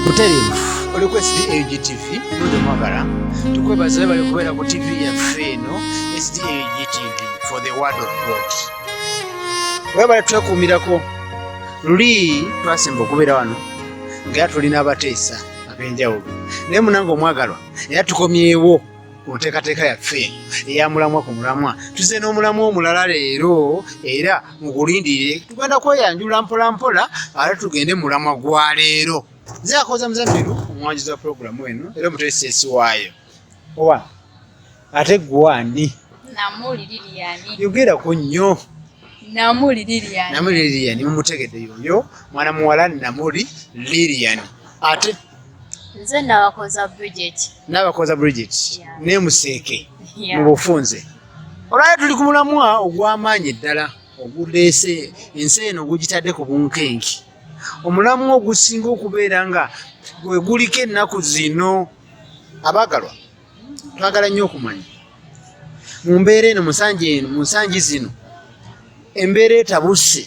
Butereevu oli ku SDAG TV Ludo Mwagala tukwebaza webale kubeera ku TV yaffe eno SDAG TV for the word of God webale twekuumirako luli twasemba okubeera wano nga era tulina abateesa ab'enjawulo naye munange omwagalwa era tukomyewo ku nteekateeka yaffe eya mulamwa ku mulamwa tuze n'omulamwa omulala leero era mugulindirire tugenda kweyanjula mpolampola ate tugende mulamwa gwa leero nze akoza muzamiru omwanjuzi wa pulogulamu eno era omuteesesi waayo owa ate gwani namuli liliyani yogera ku nnyo namuli liliyani namuli liliyani mumutegedde yoyo mwana muwala namuli liliyani ate nze nabakoza bridget nabakoza bridget yeah. ne museeke yeah. mu bufunze olwali tuli ku mulamwa ogw'amaanyi ddala oguleese ensi eno ogugitadde ku bunkenke omulamwa ogusinga okubeera nga gwe guliko ennaku zino abaagalwa twagala nnyo okumanya mu mbeera eno musanji eno mu nsangi zino embeera etabuse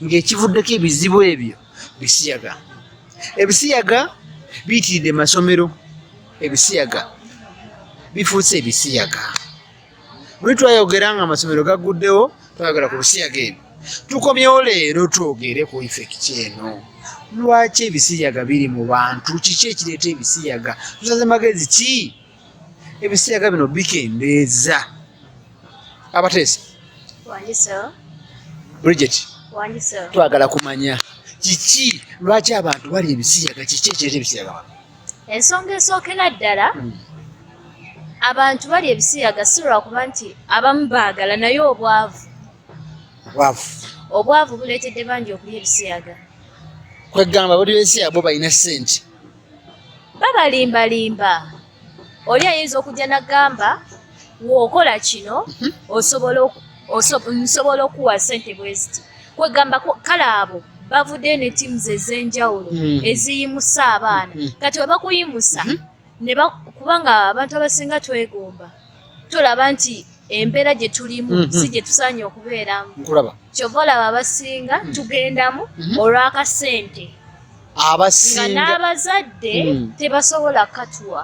ng'ekivuddeko ebizibu ebyo bisiyaga ebisiyaga biyitiridde masomero ebisiyaga bifuuse ebisiyaga buli twayogera nga amasomero gagguddewo twayogera ku bisiyaga ebyo tukomyewo leero twogere ku ifekiti eno lwaki ebisiyaga biri mu bantu kiki ekireeta ebisiyaga tusaze magezi ki ebisiyaga bino bikendeeza abateesa bridget twagala kumanya kiki lwaki abantu bali ebisiyaga kiki ekireeta ebisiyaga ensonga esookera ddala hmm. abantu bali ebisiyaga si lwakuba nti abamu baagala naye obwavu obwavu buleetedde bangi okulya ebisiyaga kwegamba buli besiyaga bo balina sente babalimbalimba oli ayinza okujja nagamba wokola kino mhm. osobola nsobola okuwa sente bweziti kwegamba kale abo bavuddeyo ne teams ez'enjawulo hmm. eziyimusa abaana hmm. kati webakuyimusa hmm. kubanga abantu abasinga twegomba tolaba nti embeera gye tulimu mhm. si gye tusaanye okubeeramu kyova olaba abasinga mhm. tugendamu mhm. olw'akasente nga n'abazadde tebasobola katuwa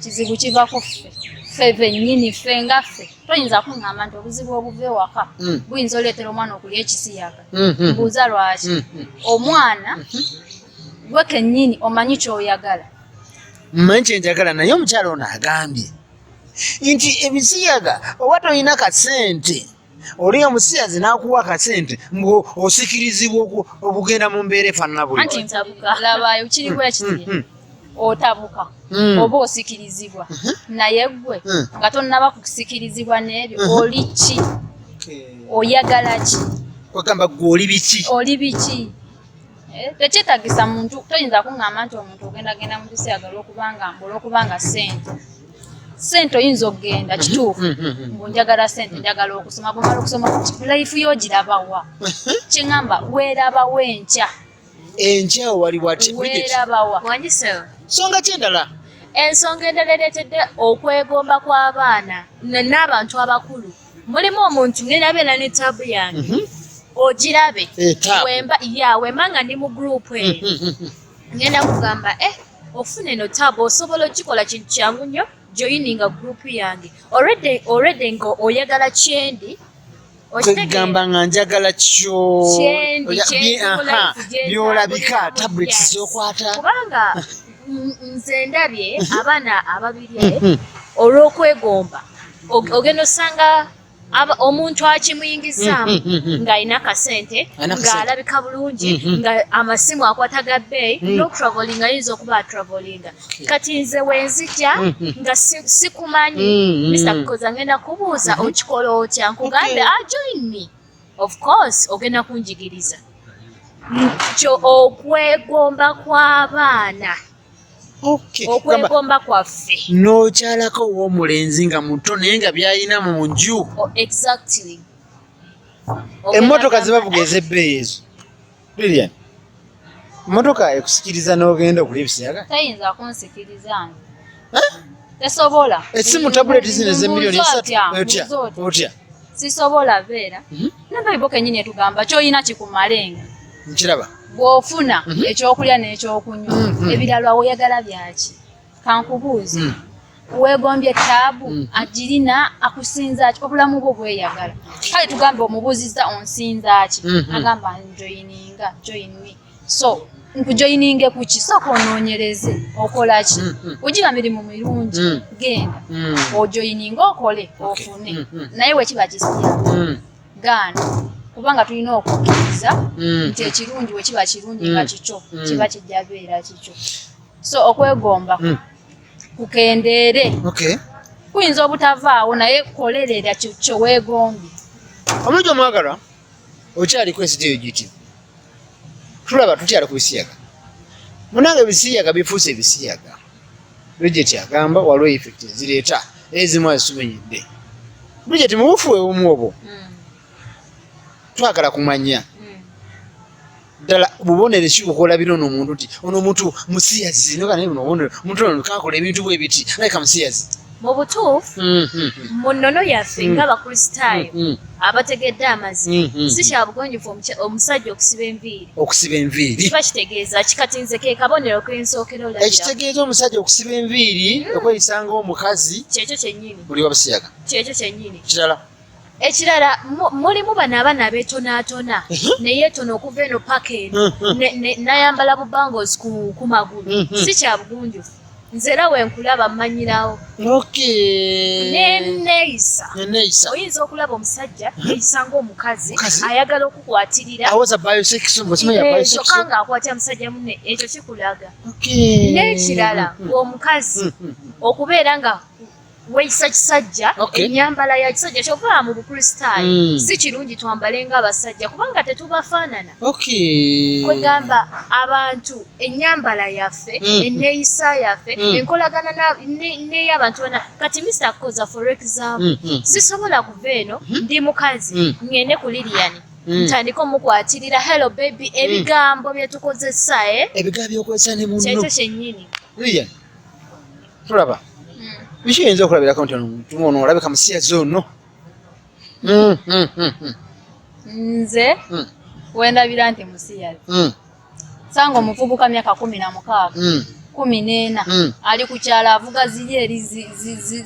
kizibu kiva ku ffe ffe bennyini ffe nga ffe toyinza kuŋŋamba nti obuzibu obuva ewaka mm. buyinza oleetera omwana okulya ekisiyaga mm-hmm. mbuuza lwaki mm-hmm. omwana mm-hmm. gwe kennyini omanyi kyoyagala mmanyi kyenjagala naye omukyala ono agambye nti ebisiyaga oba tolina kasente oli nga musiyazi nakuwa akasente mbu osikirizibwa okugenda mu mbeera efaanana buli otabuka hmm. oba osikirizibwa mhm. naye gwe hmm. nga tonnaba kusikirizibwa n'ebyo mhm. oli ki oyagala ki ogamba gwe oli biki oli biki Eh, tekyetagisa muntu toyinza kuŋŋamba nti omuntu ogenda genda mu kiseera olwokubanga olwokubanga ssente sente oyinza okugenda mhm, kituufu mhm, mhm. mbu njagala sente njagala okusoma bwomala okusoma life yo ogirabawa kyeŋamba weerabawo enkya enkya wali watisonga kyendala ensonga endala ereetedde okwegomba kw'abaana n'abantu abakulu mulimu omuntu nerabeera ne taabu yange mhm. ogirabe eh, wemba ya wemba nga ndi mu gurupu eyo eh. mhm, mhm, ngenda kugamba e okufuna eno taabu osobola okikola kintu kyangu nnyo joyininga gurupu yange olwedde nga oyagala kyendi kwegamba nga njagala kyo byolabika tablet zokwata kubanga nze ndabye abaana ababiri olw'okwegomba ogenda osanga omuntu akimuyingizaamu mm, mm, mm, ng'alina kasente ng'alabika bulungi nga amasimu akwata ga bbeeyi n'okutravolinga ayinza okuba atravolinga kati nze wenzija nga sikumanyi misa kukoza ngenda kubuuza mm-hmm. okikola otya nkugambe ajoin ah, me of course ogenda kunjigiriza kyo okwegomba kw'abaana okwegomba kwaffe nokyalako owomulenzi nga muto naye nga byayina mu nju oh, emmotoka zibavuga ezebbeeyi ezo lilian emmotoka ekusikiriza n'ogenda okulya ebisiyaga tayinza kunsikiriza tesobola esimu tabuleti zino ezemiliyoni esatu otya otya sisobola beera mhm. nabayibo kenyini etugamba kyoyina kikumalenga nkiraba bw'ofuna mhm. ekyokulya n'ekyokunywa mhm. ebirala oyagala byaki kankubuuzi mhm. weegombye taabu agirina akusinza ki obulamu bwo bweyagala kale tugambe omubuuzizza onsinza ki agamba njoyininga join me so nkujoyininge kuki sooka onoonyereze okola ki ogira mirimu mirungi genda ojoyininge okole ofune naye wekiba kisiya gaana kubanga tulina okukkiriza mm. nti ekirungi bwe kiba kirungi nga mm. kikyo mm. kiba kijja beera kikyo so okwegomba kukendeere kuyinza obutavaawo naye kolerera kyo weegombye omulungi omwagalwa okyali kwesita eyo giti tulaba tukyali ku bisiyaga munange ebisiyaga bifuuse ebisiyaga Bridget agamba waliwo effect ezireeta naye ezimu azisubinyidde. Bridget mubufu webumu obwo hmm. twagala kumanya hmm. ddala bubonero ki bukola bino ono omuntu nti ono omuntu musiyazi nogana naye buno obubonero omuntu ono kakola ebintu bwe biti naye kamusiyazi. mu butuufu mm-hmm. mu nnono yaffe mm-hmm. ng'abakristaayo mm-hmm. abategedde amazima si kya bugonjofu omusajja okusiba enviiri okusiba enviiri kiba kitegeeza kikatinze ke kabonero k'ensookera olabira ekitegeeza omusajja okusiba enviiri mm. okweyisa ng'omukazi kyekyo kyennyini buli wabisiyaga kyekyo kyennyini kirala ekirala mulimu bano abaana betonaatona neyetona okuva eno paka eno nayambala bubangos ku magulu si kyabugunjufu nze era wenkulaba mmanyirawo neneyisa oyinza okulaba omusajja eyisa ngaomukazi ayagala okukwatirira kyokka nga akwatira musajja mune ekyo kikulaga n'ekirala omukazi okubeera nga weyisa kisajja okay. enyambala ya kisajja kyova mu bukristaayo mm. si kirungi twambale nga abasajja kubanga tetubafaanana okay. kwegamba abantu enyambala yaffe mm. eneyisa yaffe mm. enkolagana neyabantu ne, ne bana kati mr koza for example mm. mm. sisobola kuva eno mm. ndi mukazi mm. ngende ku liliyani Mm. ntandika omukwatirira hello baby mm. ebigambo mm. byetukozesa eh? ebigambo byokozesa ne muno kyekyo kyenyini tulaba biki hmm. yinza okulabirako nti ono olabika musiyazi ono hmm, hmm, nze wendabira nti musiyazi sanga omuvubuka myaka kumi na mukaaga kumi n'ena ali ku kyalo avuga ziri eri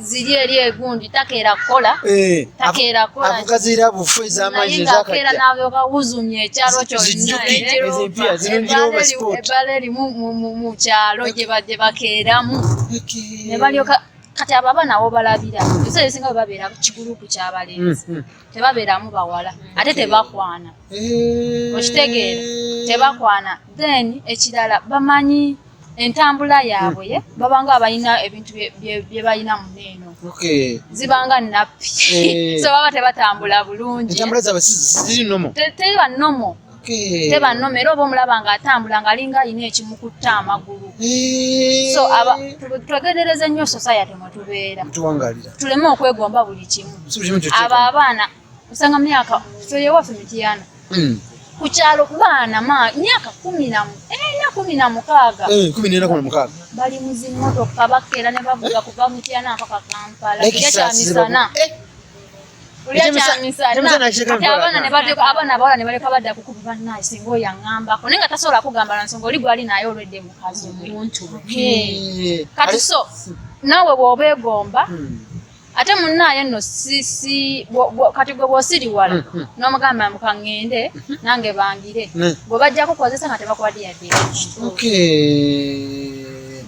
ziri eri egundi takeera kukola eh, takeera kukolavuga zira bufu ez'amaanyi ezakajja naye ng'akeera n'abyokawuzumya ekyalo kyonna ebbala mu kyalo gye badde bakeeramu ne balyoka kati abo abaana wo balabira ebiseera ebisinga bwe babeera kigulupu kyabalenzi mm, mm. tebabeeramu bawala ate tebakwana eh. okitegeera tebakwana then ekirala bamanyi entambula yaabwe ye mm. babanga abalina ebintu bye balina mune eno zibanga nappi eh. so baba tebatambula bulungi teri banomo Eh. te bannoma era oba omulaba nga atambula nga alinga alina ekimukutte amagulu eh. so twegedereze nnyo society mwetubeera tuleme okwegomba buli kimu abo abaana osanga myaka soyewaffe mitiyana hmm. ku kyalo ku baana myaka kumi namu ena kumi na mukaaga eh, bali mu zimmotoka bakeera ne bavuga kuva mutiyana mpaka kampala ekyamisana abaana abawala ne baleka badda kukuba bannaye singa oyo aŋambako naye nga tasobola kugamba na nsonga oli gwali naye olwedde mukazi omuntu kati so naawe bw'oba egomba hmm. ate munaye no sisi kati gwe bwosiriwala hmm, hmm. nomugamba mukangende hmm. nange bangire bwe bajja kukozesa nga tebakubadde yadde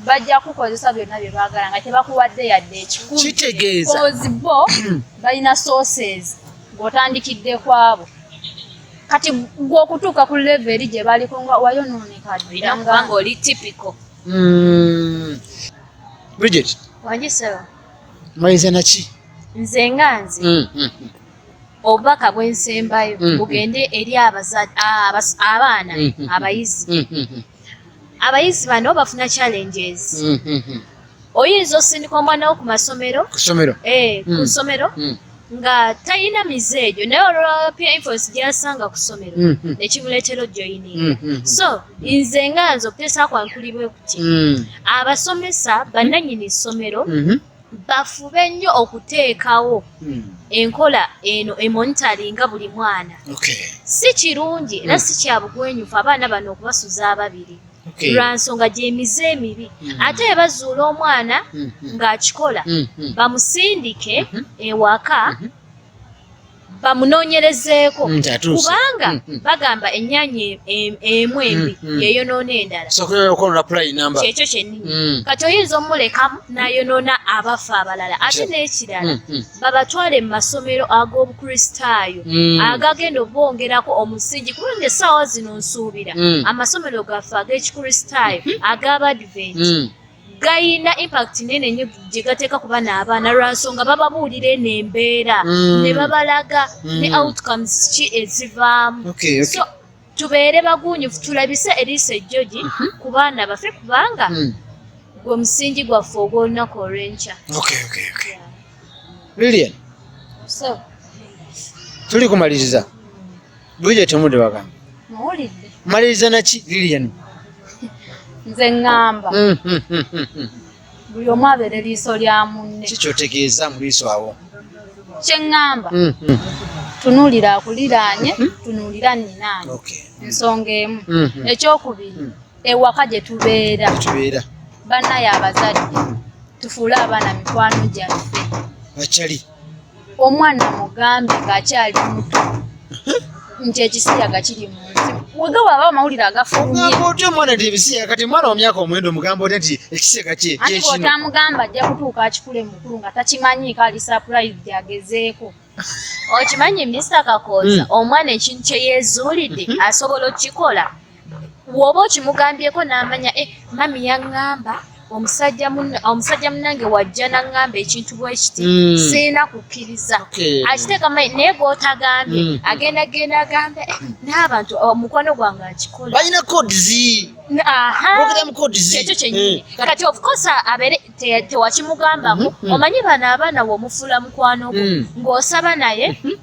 bajja kukozesa byonna bye baagala nga tebakuwadde yadde ekikumi kitegeeza bo balina sources ng'otandikidde kwabo kati gwe okutuuka ku leve eri gye baliko nga wayonooneka olina kubanga oli tipiko hmm. bridget wangisaba maliza naki nze nga nze hmm, hmm, obubaka bwensembayo bugende eri abaana abayizi abayizi bano bafuna challenges mm -hmm. oyinza osindika omwana wo ku masomero ku somero eh, ku mm. somero mm. nga talina mize egyo naye olwapia infos gyasanga ku somero mm -hmm. nekimuleetera ojoyininga mm -hmm. so nze nga nze okutesa kwankulibwe kuti mm. abasomesa bananyini somero mm -hmm. bafube nnyo okuteekawo hmm. enkola eno emonitaringa buli mwana si kirungi era hmm. si kyabugwenyufu abaana bano okubasuza ababiri lwa nsonga gyemize emibi hmm. ate bwe bazuula omwana ng'akikola bamusindike ewaka bamunoonyerezeeko mm, kubanga mm, mm. bagamba ennyanya emu embi yeyonoona endalakyekyo kyennyini kati oyinza omulekamu nayonoona abafa abalala ate n'ekirala babatwale mu masomero ag'obukristaayo agagenda obongerako omusingi kubanga essaawa zino nsuubira amasomero gaffe ag'ekikristaayo ag'abadventi gayina impact nene nyo gyegateeka ku bana abaana lwansonga bababuulira eno embeera mm. ne babalaga mm. ne outcomes ki ezivaamu so tubeere bagunyufu tulabise eriiso ejjogi mhm. ku baana baffe kubanga mm. gwe musingi gwaffe ogw'olunaku olw'enkya lilian tuli kumaliriza Bwije temude bagamba. Mawulidde. Maliriza na ki Lilian. Nze ngamba. Mm, mm, mm, Buli omu abeere liiso lya munne. Kikyo tegeeza mu liiso awo. Kye ngamba. Tunuulira akuliraanye, tunuulira nnyinaanye. Okay. Nsonga emu. Ekyokubiri, ewaka gye tubeera. Gye tubeera. Bannaye abazadde. Tufuule abaana mikwano gyaffe. Bachali. omwana mugambe ng'akyali muto nti ekisiyaga kiri mu nsi wega waba amawulire agafulumyeogamba otya omwana nti ebisiyaga kati omwana wa myaka omwenda omugamba otya nti ekisiyaga kyekinootamugamba ajja kutuuka akikule mukulu nga takimanyiiko ali surprise gyagezeeko okimanyi mr kakooza hmm. omwana ekintu kye yeezuulidde hmm. asobola okukikola woba okimugambyeko namanya e eh, mami yaŋŋamba omusajja omusajja munange wajja naŋŋamba ekintu bwekiti mm. sirina kukkiriza akiteeka mai naye gwotagambye mm. agenda genda agambe eh, n'abantu oh, omukwano gwange akikola balina kodzi ekyo kyenyini eh. kati ofkosa abeere tewakimugambako mm-hmm. omanyi bano abaana womufula mukwano gwo mm. ng'osaba naye mm-hmm.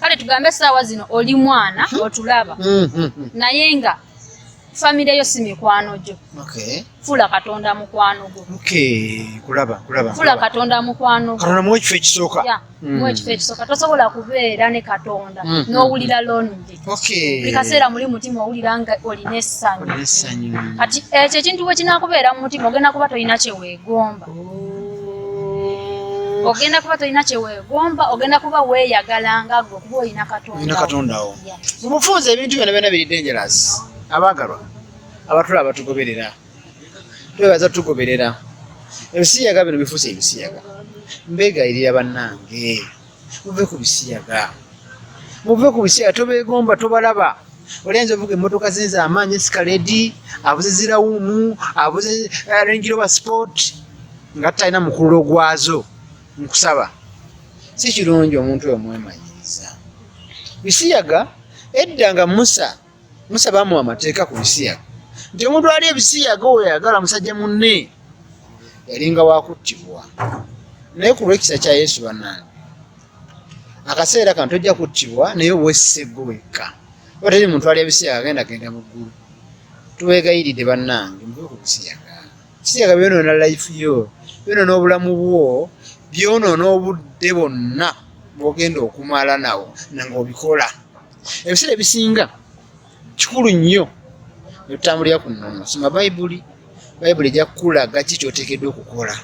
kale tugambe essaawa zino oli mwana hmm. otulaba hmm, hmm, naye nga famire yo si mikwano gyo fula katonda mukwano gwo fula katonda mukwano gwomuwa ekifo ekisooka muwa ekifo ekisooka tosobola kubeera ne katonda n'owulira lonje buli kaseera muli mutima owulira nga olina essanyu kati ekyo ekintu bwe kinakubeera mu mutima ogenda kuba tolina kyeweegomba ogenda kuba tolina kyewegomba ogenda kuba weyagala nga gwe kuba olina katondaolina katondawo mu bufunza ebintu byona byona biri dangeros abaagalwa abatula abatugoberera twebaza tugoberera ebisiyaga bino bifuusa ebisiyaga mbegayirira bannange muve ku bisiyaga muve ku bisiyaga tobegomba tobalaba olenza ovuga emotoka zenza amaanyi esikaledi abuze zirawumu abuze eh, rengiroba sport nga tutalina mukululo gwazo nkusaba si kirungi omuntu oyo mwemanyiriza bisiyaga edda nga musa musa bamuwa amateeka ku bisiyaga nti omuntu ali ebisiyaga oyo ayagala musajja munne yalinga wakuttibwa naye ku lwekisa kya yesu banange akaseera kano tojja kuttibwa naye obwesiseggo wekka oba teri muntu ali ebisiyaga agenda genda mu ggulu tuwegayiridde bannange muve ku bisiyaga bisiyaga byonoona life yo byonoona obulamu bwo byonoona obudde bwonna bwogenda okumala nawo nange obikola ebiseera ebisinga kikulu nnyo netutambulira ku nnono soma bayibuli bayibuli ejja kukulaga ki kyoteekeddwa okukola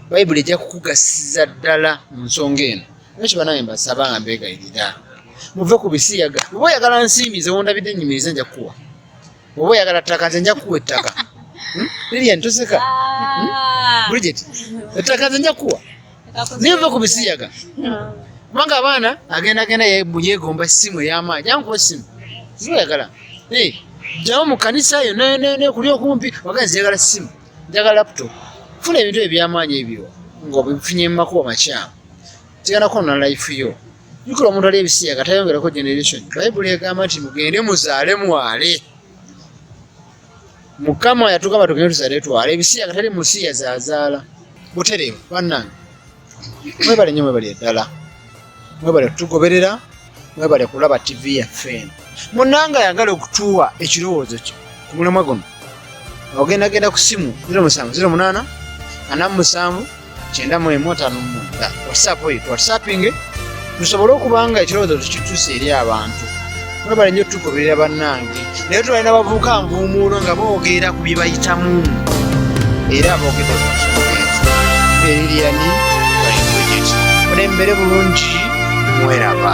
bayibuli ejja kukugasiza ddala mu nsonga eno nakyo banawe mbasaba nga mbegayirira muve ku bisiyaga oba oyagala nsimbi nze wondabidde enyimiriza nja kukuwa oba oyagala ttaka nze nja kukuwa ettaka hmm? lilian toseka hmm? ah. bridget ettaka nze nja kukuwa niva ku bisiyaga kubanga abaana agenda genda yegomba essimu ey'amaanyi yankuba essimu zibayagala jawo mu kanisa yo nekuli okumpi wagana ziyagala ssimu njagala laptop funa ebintu ebyamaanyi ebyo ngaobifunye mu makuba makyamu kigenda kwona life yo jukira omuntu ali ebisiyaga tayongerako generation bayibuli egamba nti mugende muzaale mwale mukama yatugamba tugende tuzale twala ebisiyaga tali musiya zazaala butereevu bannange mwebale nyo mwebale eddala mwebale kutugoberera mwebale kulaba tivi yaffe eno munanga yagala okutuwa ekirowoozo kyo ku mulamwa guno ogendagenda ku simu 0 musanvu 0 munaana ana musanvu kyenda mu emu ataano mumwenda whatsapp eyo whatsappinge tusobole okubanga ekirowoozo tukituusa eri abantu mwebale nnyo tukuberera bannange naye tulali nabavubuka nvuumuulo nga bogeera ku byebayitamu era boogedde eririyani olembere bulungi mweraba